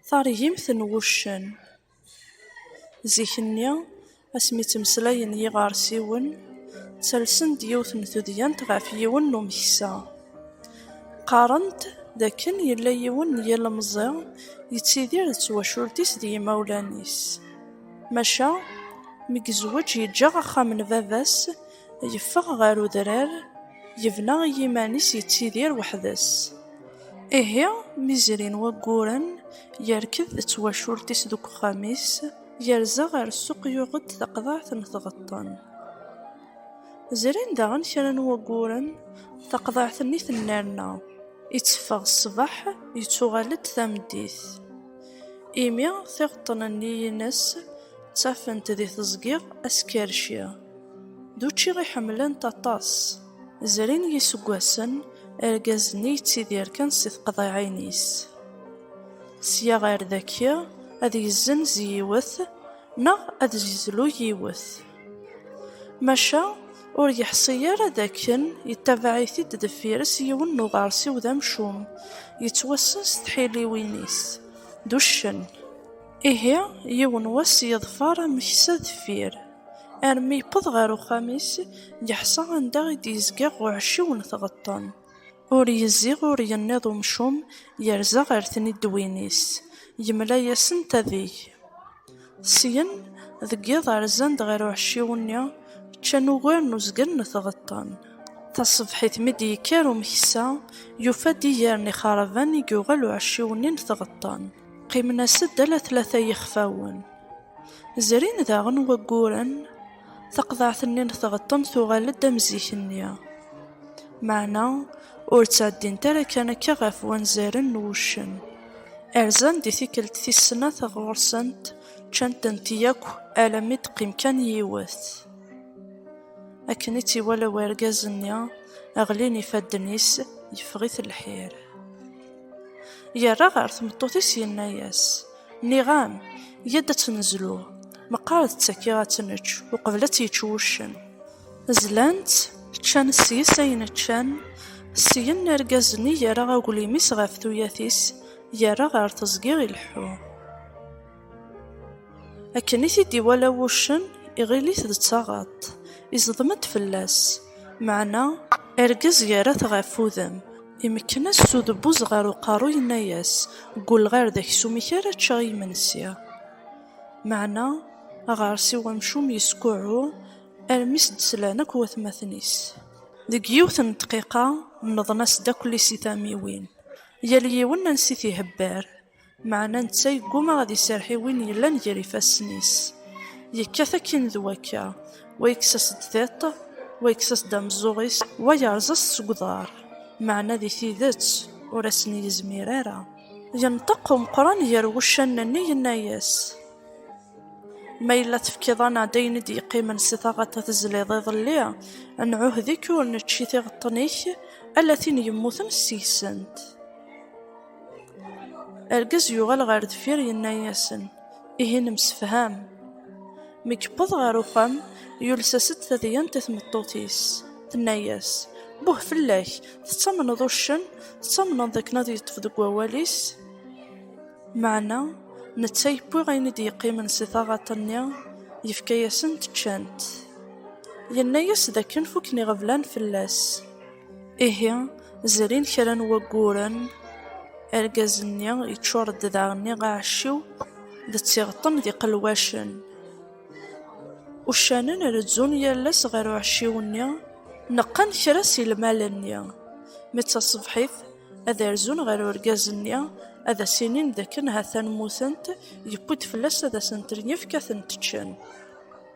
Taregimt n wuccen. Zik-nni, asmi ttmeslayen yiɣersiwen, ttalsen-d yiwet n tudyant ɣef yiwen n umeksa. Qqaren-d d akken yella yiwen n yilemẓi yettidir d twacult-is d yimawlan-is. Maca, mi yezweǧ yeǧǧa axxam n baba-s, Yeffeɣ ɣer udrar, yebna i yiman-is yettidir weḥd-s. Ihi, mi zrin wagguren, yerked d twacult-is deg uxxam-is, yerza ɣer ssuq yuɣ-d taqḍaɛt n tɣeṭṭen. Zrin daɣen kra n wagguren, taqḍaɛt-nni tennerna, itteffeɣ ṣṣbeḥ, yettuɣal-d tameddit. Imi tiɣeṭṭen-nni-ines ttafent di teẓgi askerci. D učči i ḥemmlent aṭas. Zrin yiseggasen, argaz-nni yettidir kan si teqḍiɛin-is. Sya ɣer daki, ad yezzenz yiwet neɣ ad yezlu yiwet. Maca, ur yeḥṣi ara d akken yettabaɛ-it-id deffir-s yiwen n uɣersiw d amcum, yettwassen s tḥiliwin-is, d uccen. Ihi, yiwen wass yeḍfer ameksa deffir. armi yewweḍ ɣer uxxam-is, yeḥṣa anda i d-yezga uɛecciw n tɣeṭṭen. Ur yezziɣ ur yenniḍ umcum, yerza ɣer tniddwin-is, yemla-yasent adeg. Syen, deg yiḍ rzan-d ɣer uɛecciw-nni, ččan ugar n uzgen n tɣeṭṭen. Taṣebḥit mi d-yekker umeksa, yufa-d iger n ixerban i yuɣal uɛecciw-nni n tɣeṭṭen. Qqimen-as-d ala tlata yixfawen. Zrin daɣen wagguren, taqḍaɛt-nni n tɣeṭṭen tuɣal-d am zik-nni. Meɛna ur ttɛeddint ara kan akka ɣef wanzaren n wuccen. Rzan di tikkelt tis snat ɣur-sent, ččan-tent yakk alammi d-teqqim kan yiwet. Akken i tt-iwala wergaz-nni, ɣlin ifadden-is, yeffeɣ-it lḥir. Yerra ɣer tmeṭṭut-is yenna-as, Nniɣ-am, yya-d ad tt-nezlu. Meqqar d tagi ad tt-nečč, uqbel ad tt-yečč wuccen. Zlan-tt, ččan seg-s ayen ččan, syen argaz-nni yerra aglim-is ɣef tuyat-is, yerra ɣer teẓgi ileḥḥu. Akken i t-id-iwala wuccen, iɣil-it d taɣaḍt, iẓdem-d fell-as, meɛna argaz yerra-t ɣef udem. Imekken-as s udebbuz ɣer uqerru yenna-yas, Ggulleɣ ar d aksum-ik ara ččeɣ i yimensi. Meɛna aɣersiw amcum yeskuɛɛu armi i s-d-slan akk watmaten-is. Deg yiwet n ddqiqa, nneḍen-as-d akk lisitamiwin, yal yiwen ansi t-ihebber, Meɛna netta yegguma ad iserreḥ i win yellan gar ifassen-is. Yekkat akkin d wakka, wa yekkes-as-d tiṭ, wa yekkes-as-d ameẓẓuɣ-is, wa yerẓa-s seg uḍar. Meɛna di tidet ur asen-yezmir ara. Yenṭeq Umeqqran gar wuccanen-nni yenna-yas, Ma yella tefkiḍ-aneɣ-d ayen i d-yeqqimen si taɣaṭ tezliḍ iḍelli, nɛuhed-ik ur nečči tiɣeṭṭen-ik, ala tin yemmuten seg-sent. Argaz yuɣal ɣer deffir yenna-yasen, ihi nemsefham. Mi yewweḍ ɣer uxxam, yules-as-d tadyant i tmeṭṭut-is, tenna-yas, Buh fell-ak, tettamneḍ uccen, tettamneḍ d akken ad yeṭṭef deg wawal-is? Meɛna netta yewwi ayen i d-yeqqimen si taɣaṭ-nni, yefka-yasen-t ččan-t. Yenna-yas d akken fukken iɣeblan fell-as. Ihi, zrin kra n wagguren, argaz-nni yeččur-d daɣen iɣaɛciw d tiɣeṭṭen d iqelwacen. Uccanen rezzun yal ass ɣer uɛecciw-nni, neqqen kra si lmal-nni. Mi d taṣebḥit, ad arzun ɣer urgaz-nni, ad as-inin d akken ha-t-an mmutent, yewwi-d fell-as ad asent-yefk ad tent-ččen.